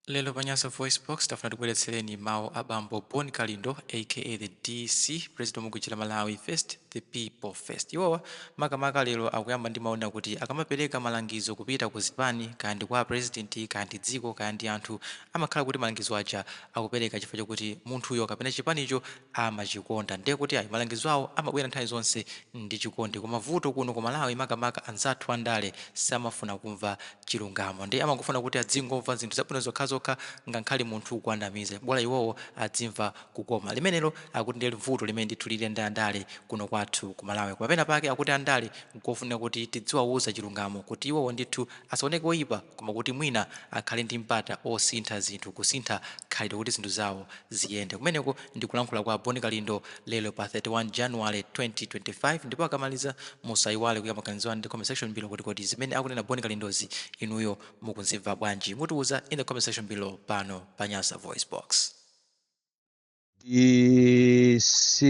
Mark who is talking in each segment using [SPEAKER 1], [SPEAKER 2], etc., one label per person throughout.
[SPEAKER 1] Lero pa Nyasa VoiceBox, tafuna tikubweretsereni mawu a bambo Bon Kalindo aka the DC, president wa mabvutika Malawi first, the people first. Iwowa makamaka lero akuyamba ndi mawu onena kuti akamapereka malangizo kupita ku zipani, kaya ndi kwa president, kaya ndi dziko, kaya ndi anthu, amakhala kuti malangizo aja akupereka chifukwa chokuti munthuyo kapena chipanicho amachikonda ndiye kuti ayi malangizo awo amabwera nthawi zonse ndi chikondi koma vuto kuno ku Malawi makamaka anzathu a ndale samafuna kumva chilungamo ndiye amangofuna kuti adzingomva zinthu zabwino zokhazokha ngakhale munthu ukuwanamiza bola iwowo adzimva kukoma limenelo akuti ndiye vuto limene ndithu lili ndi andale kuno kwathu ku Malawi koma pena pake akuti andale nkofunika kuti tidziwauza chilungamo kuti iwowo ndithu asaoneke oipa koma kuti mwina akhale ndi mpata osintha zinthu kusintha khalidwe kuti zinthu zawo ziyende. Kumeneko ndi kulankhula kwa Bon Kalindo lero pa 31 January 2025 ndipo akamaliza musaiwale kuika maganizo anu in the comment section below kuti kodi zimene akunena Bon Kalindozi inuyo mukuzimva bwanji? Mutiuza in the comment section below pano pa Nyasa VoiceBox.
[SPEAKER 2] DC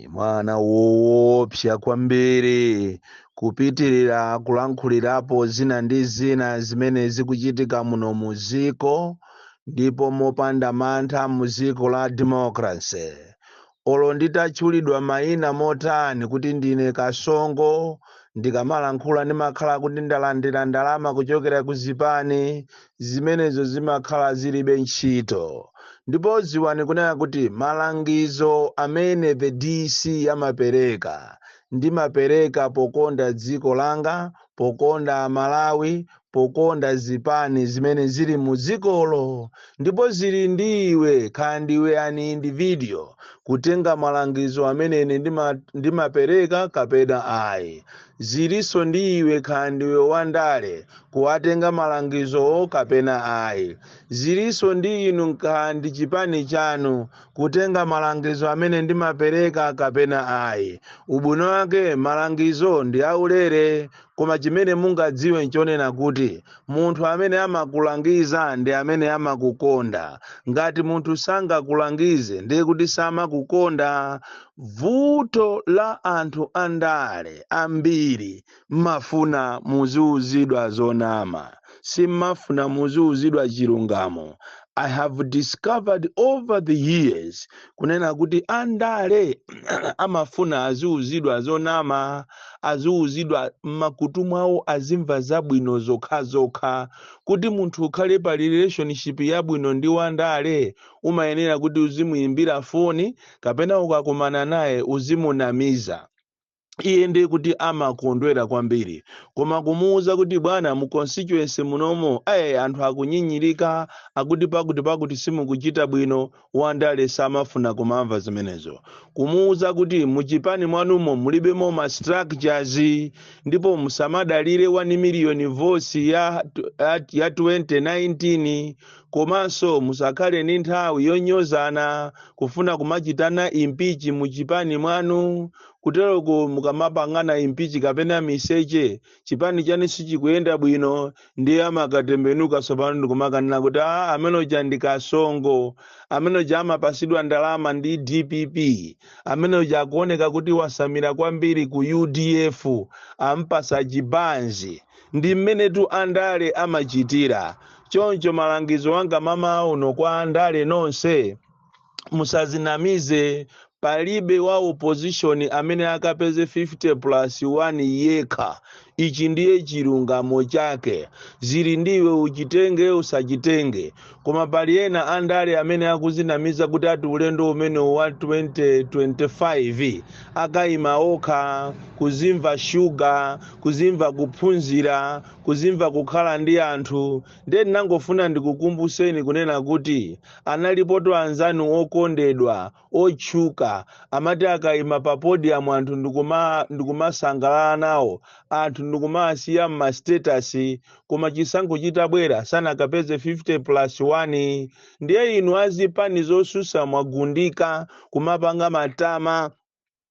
[SPEAKER 2] mwana woopsa kwambiri kupitirira kulankhulirapo zina ndi zina zimene zikuchitika muno mu dziko ndipo mopanda mantha mu dziko la democracy olo nditatchulidwa mayina motani kuti ndine kasongo ndikamalankhula ndimakhala kuti ndalandira ndalama kuchokera ku zipani zimenezo zimakhala zilibe ntchito. Ndipo dziwani kunena kuti malangizo amene the DC amapereka, ndimapereka pokonda dziko langa, pokonda Amalawi, pokonda zipani zimene zili mu dzikolo. Ndipo zili ndi iwe, kaya ndiwe an individual, kutenga malangizo amene ine ndima, ndimapereka kapena ayi. Zilinso ndi iwe kaya ndiwe wa ndale kuwatenga malangizowo kapena ayi. Zilinso ndi inu kaya ndi chipani chanu kutenga malangizo amene ndimapereka kapena ayi. Ubwino wake malangizo ndi aulere koma chimene mungadziwe nchonena kuti munthu amene amakulangiza ndi amene amakukonda. Ngati munthu sangakulangize ndiye kuti samakukonda. Vuto la anthu andale ambiri mmafuna muziuzidwa zonama simmafuna muziuzidwa chilungamo. I have discovered over the years kunena kuti andale amafuna aziuzidwa zonama aziuzidwa mmakutu mwawo azimva zabwino zokhazokha kuti munthu ukhale pa relationship yabwino ndi wandale umayenera kuti uzimuimbira foni kapena ukakumana naye uzimunamiza iye ndiye kuti amakondwera kwambiri koma kumuwuza kuti bwana mu constituency munomo ayi anthu akunyinyirika akuti pakuti pakuti simukuchita bwino wandale samafuna kumamva zimenezo kumuwuza kuti muchipani mwanumo mulibemo ma structures ndipo musamadalire 1 miliyoni votes ya 2019 komanso musakhale ndi nthawi yonyozana kufuna kumachitana impichi mu chipani mwanu kuteroko mukamapangana impichi kapena miseche chipani chanu sichikuyenda bwino ndiye amakatembenuka tsopano ndikumakanena kuti a amene uja ndi kasongo amene uja amapasidwa ndalama ndi dpp amene uja akuoneka kuti wasamira kwambiri ku udf ampasa chibanzi ndi mmenetu andale amachitira choncho malangizo anga mamawa uno kwa andale nonse musazinamize palibe wa opposition amene akapeze 50 plus 1 yekha ichi ndiye chilungamo chake zili ndiwe uchitenge usachitenge koma pali ena andale amene akuzinamiza kuti ati ulendo umene wa 2025 akayima okha kuzimva shuga kuzimva kuphunzira kuzimva kukhala ndi anthu ndiye ndinangofuna ndikukumbuseni kunena kuti analipoto anzanu okondedwa otchuka amati akaima pa podium anthu ndikumasangalala nawo anthu ndikumawasiya mma status koma chisankho chitabwera sanakapeze 50 plus 1 ndiye inu azipani zosusa mwagundika kumapanga matama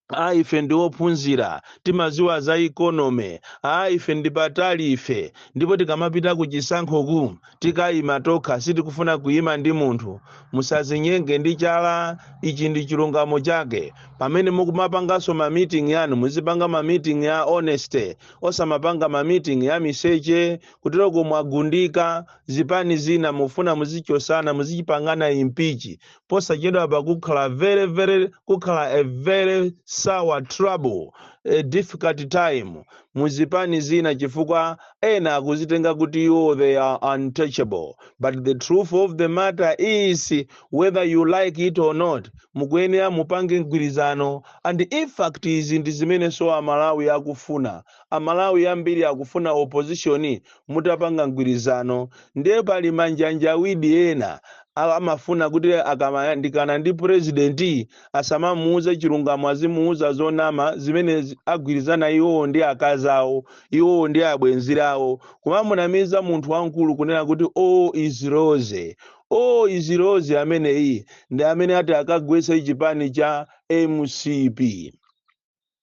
[SPEAKER 2] a ife ndi ophunzira timaziwa za economy a ife ndi patali ife ndipo tikamapita ku chisankhoku tikayima tokha sitikufuna kuyima ndi munthu musazinyenge ndi chala ichi ndi chilungamo chake pamene mukumapanganso ma meeting yanu muzipanga ma meeting ya honesty osamapanga ma meeting ya miseche kuteroko mwagundika zipani zina mufuna muzichosana muzichipangana impichi posachedwapa kukhala very very kukhala a very sour trouble a difficult time muzipani zina chifukwa ena akuzitenga kuti iwo they are untouchable but the truth of the matter is whether you like it or not mukuyenera mupange mgwirizano and in fact izi ndi zimenenso amalawi akufuna amalawi ambiri akufuna opposition mutapanga mgwirizano ndiye pali manjanjawidi ena a- amafuna kuti akamayandikana ndi president asamamuuze chilungamo azimuuza zonama zimene zi- agwirizana iwowo ndi akazi awo iwowo ndi abwenzi awo kumamunamiza munthu wamkulu kunena kuti o iziroze o iziroze ameneyi ndi amene ati akagwetse chipani cha mcp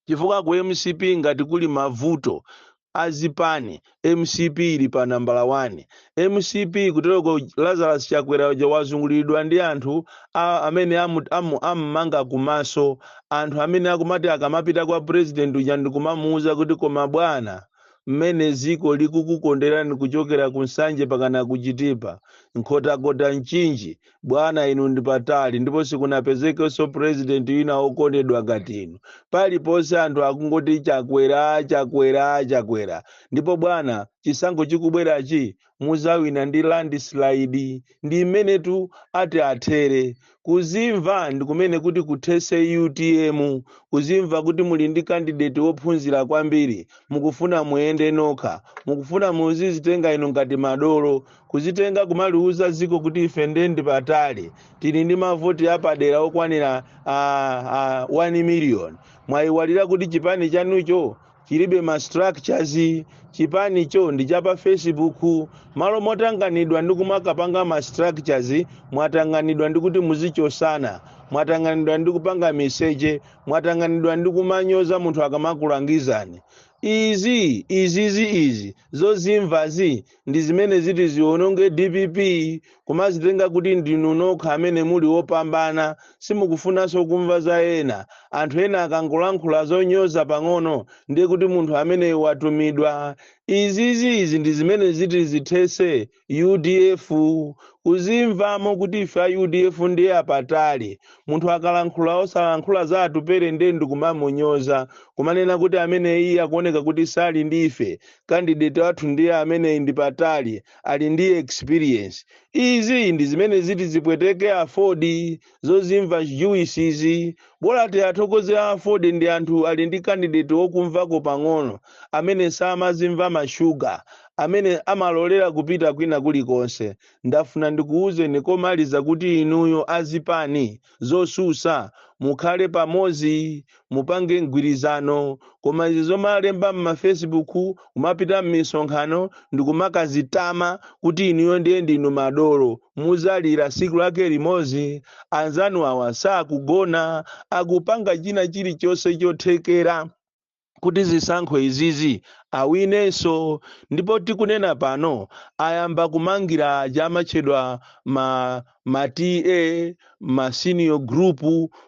[SPEAKER 2] chifukwa ku mcp ngati kuli mavuto azipani mcp ili pa nambala 1 mcp kutereko lazarus chakwera uja wazunguliridwa ndi anthu a, amene amu, amu, ammanga kumaso anthu amene akumati akamapita kwa president uja ndikumamuuza kuti koma bwana mmene ziko likukukonderani kuchokera ku nsanje pakana kuchitipa nkhotakota mchinji bwana inu ndi patali ndipo sikunapezekenso president wina wokondedwa ngati inu paliponse anthu akungoti chakwera chakwera chakwera ndipo bwana chisankho chikubwerachi muzawina ndi landslide ndi mmenetu ati athere kuzimva ndi kumene kuti kuthese utm kuzimva kuti muli ndi kandideti wophunzira kwambiri mukufuna muyende nokha mukufuna muzizitenga inu ngati madolo kuzitenga kumaliuza ziko kuti ife nde ndi patali tili ndi mavoti apadera okwanira ah, ah, 1 million mwayiwalira kuti chipani chanucho chilibe ma structures chipanicho ndi cha pa facebook malo motanganidwa ndi kumakapanga ma structures mwatanganidwa ndi kuti muzichosana mwatanganidwa ndi kupanga meseji mwatanganidwa ndi kumanyoza munthu akamakulangizani izi izizi izi zozimvazi ndi zimene ziti ziononge dpp kumazitenga kuti ndinu nokha amene muli wopambana simukufunanso kumva za ena anthu ena akangolankhula zonyoza pang'ono ndiye kuti munthu ameneyo watumidwa izizi izi ndi zimene ziti zithese udf kuzimvamo kuti ife a udf ndiye apatali munthu akalankhula osalankhula za atupere ndiye ndikumamunyoza kumanena kuti ameneyi akuoneka kuti sali ndi ife candidate wathu ndiye amene ndi patali ali ndi experience izi ndi zimene ziti zipweteke afford zozimva juice izi bola tiathokoze a afford ndi anthu ali ndi candidate wokumvako pang'ono amene samazimva mashuga amene amalolera kupita kwina kulikonse ndafuna ndikuwuzeni komaliza kuti inuyo azipani zosusa mukhale pamozi mupange mgwirizano koma izi zomalemba mmafacebook kumapita mmisonkhano ndikumakazitama kuti inuyo ndiye ndinu madolo muzalira siku lake limozi anzanu awa sakugona akupanga china chilichonse chothekera kuti zisankho izizi awinenso ndipo tikunena pano ayamba kumangira aja amatchedwa ma, ma TA ma senior group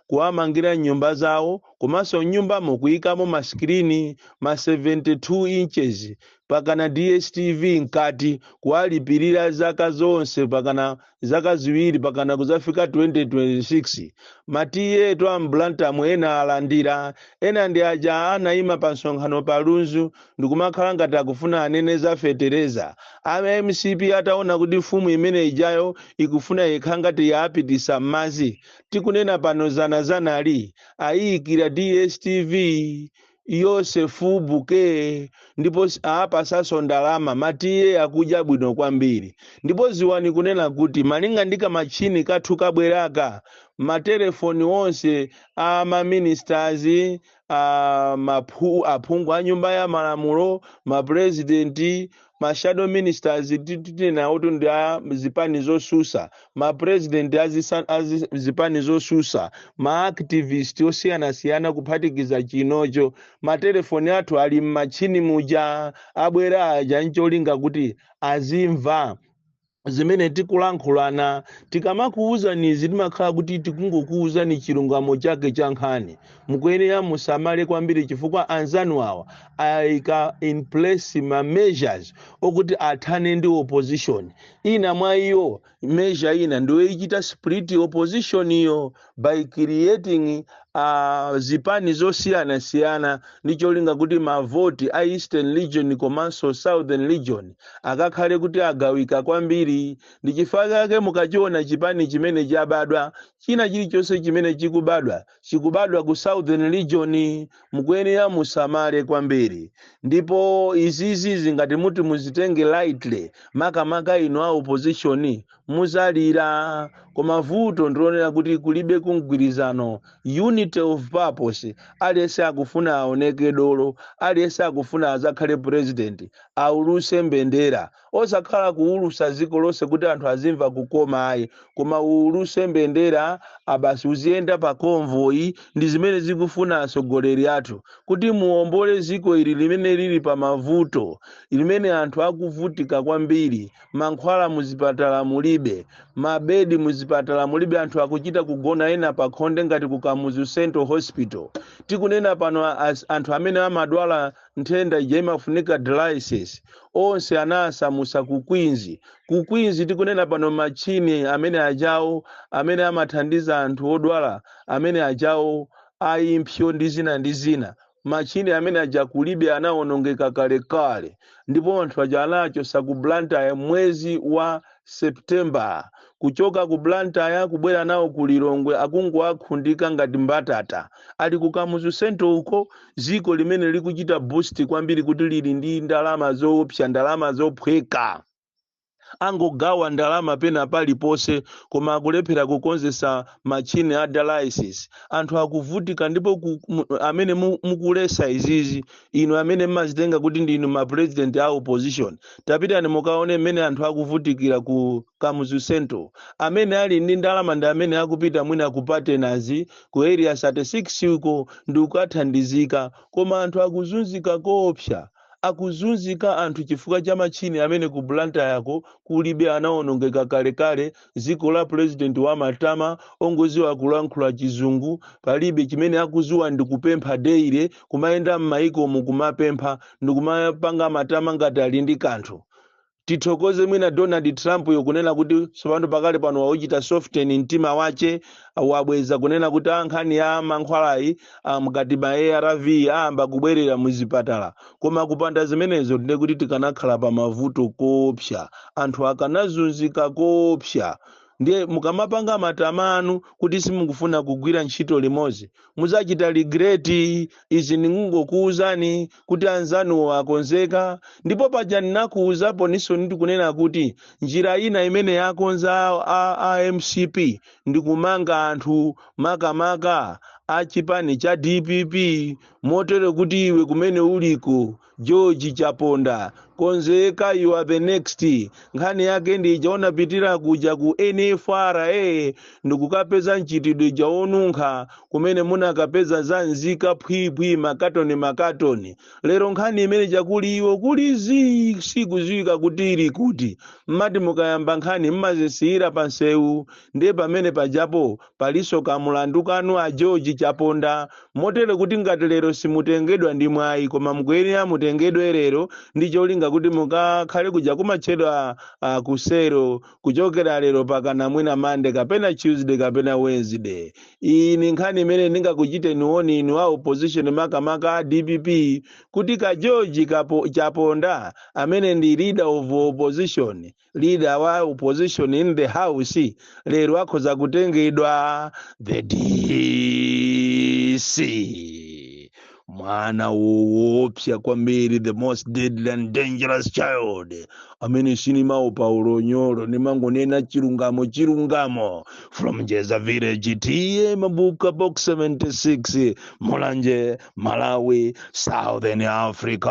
[SPEAKER 2] kuwamangira nyumba zawo komanso mnyumbamo kuyikamo masikilini ma 72 inches pakana DSTV mkati kuwalipilira zaka zonse pakana zaka ziwiri pakana kuzafika 2026 ma TA onse a m'Blantyre mu ena alandira ena ndi aja anaima pa msonkhano pa Lunzu ndikumakhala ngati akufuna anene za fetereza a MCP ataona kuti mfumu imene ijayo ikufuna yekha ngati yawapitisa m'madzi tikunena pano zana zanali ayiyikira DSTV yose full bouquet ndipo s- awapasanso ndalama ma TA akudya bwino kwambiri ndipo ziwani kunena kuti malinga ndi kamatchini kathu kabwera ka matelefoni onse a maministers a maphu- aphungu a nyumba ya malamulo mapurezidenti ma shadow ministers ti- ti- tinawotu ndi a zipani zosusa ma president a zisa- a zi- zipani zosusa ma activist osiyanasiyana kuphatikiza chino cho matelefoni athu ali m'matchini muja abwera aja ncholinga kuti azimva zimene tikulankhulana tikamakuwuzani izi timakhala kuti tikungokuwuzani chilungamo chake cha nkhani mukuyenera musamale kwambiri chifukwa anzanu awa ayika in place ma measures okuti athane ndi opposition ina mwa iyo measure ina ndiyoyichita split opposition iyo by creating uh, zipani zosiyanasiyana ndi cholinga kuti mavoti a eastern region komanso southern region akakhale kuti agawika kwambiri ndi chifukwa chake mukachiona chipani chimene chabadwa china chilichonse chimene chikubadwa chikubadwa ku southern region mukuyenera musamale kwambiri ndipo izizi si ngati muti muzitenge lightly makamaka inu a opposition muzalira koma vuto ndilonena kuti kulibe mgwirizano unity of purpose aliyense akufuna aoneke dolo aliyense akufuna azakhale president auluse mbendera osakhala kuulusa dziko lonse kuti anthu azimva kukoma ayi koma uuluse mbenderayo basi uziyenda pa convoy ndi zimene akufuna atsogoleri athu kuti muombole dziko ili limene lili pa mavuto limene anthu akuvutika kwambiri mankhwala muzipatala mulibe, mabedi muzipatala mulibe, anthu akuchita kugona ena pakhonde ngati ku Kamuzu Central Hospital. Tikunena pano a- as- anthu amene amadwala nthenda ija imafunika dialysis onse anawasamusa ku Queens. Ku Queens tikunena pano machine amene ajawo amene amathandiza anthu odwala amene ajawo a impsyo ndi zina ndi zina machine amene aja kulibe anawonongeka kalekale ndipo anthu aja anawachosa ku blantyre mwezi wa september kuchoka ku blantyre kubwera nawo ku lilongwe akungowakhundika ngati mbatata ali ku kamuzu central uko ziko limene likuchita boost kwambiri kuti lili ndi ndalama zoopsa ndalama zophweka angogawa ndalama pena paliponse koma akulephera kukonzesa machini a dialysis anthu akuvutika ndipo ku, mu, amene mu- mukulesa izizi inu amene mmazitenga kuti ndinu ma president a opposition tapitani mukaone mmene anthu akuvutikira ku kamuzu central amene ali ndi ndalama ndi amene akupita mwina ku Partners ku area 36 uko ndi kukathandizika koma anthu akuzunzika koopsa Akuzunzika anthu chifukwa cha machini amene ku Blantyre ko kulibe anawonongeka kalekale ziko la president wa matama ongoziwa kulankhula chizungu palibe chimene akuziwa ndi kupempha daily kumayenda mmaiko mu kumapempha ndikumapanga matama ngati ali ndi kanthu tithokoze mwina donald trump yo kunena kuti tsopano pakali pano wauchita soften mtima wache wabweza kunena kuti a nkhani ya mankhwalayi ah, ngati ma arv ayamba kubwerera muzipatala koma kupanda zimenezo ndiye kuti tikanakhala pa mavuto koopsa anthu akanazunzika koopsa ndiye mukamapanga matamanu kuti simukufuna kugwira ntchito limozi muzachita regret izi ndikungokuwuzani kuti anzanuwo akonzeka ndipo paja ndinakuwuzapo ninso ndikunena kuti njira ina imene yakonza a, a mcp ndikumanga anthu makamaka a chipani cha dpp motere kuti iwe kumene uliko George Chaponda, konzeka you are the next. Nkhani yake ndi ija unapitira kuja ku NFRA ndikukapeza mchitidwe uja wonunkha kumene munakapeza zanzika phwiphwi makatoni makatoni. Lero nkhani imene ija kuli iwo kuli zii sikuziwika kuti ili kuti. Mmati mukayamba nkhani mmazisiyira pa nsewu ndiye pamene pajapo Palinso ka mulandu kanu a George Chaponda motere kuti ngati lero simutengedwa ndi mwayi koma mukuyenera mutengedwe lero ndi cholinga kuti mukakhale kuja kumatchedwa uh, ku selo kuchokera lero pakana mwina Monday kapena Tuesday kapena Wednesday. Iyi ni nkhani imene ndingakuchiteni warn inu a opposition makamaka a DPP kuti ka George kapo, Chaponda amene ndi leader of opposition leader wa opposition in the house lero akhoza kutengedwa the dc mwana woopsa kwambiri the most deadly and dangerous child amene sinimaopa unyolo nimangonena chilungamo chilungamo from jeza village ta mabuka box 76 mulanje malawi southern africa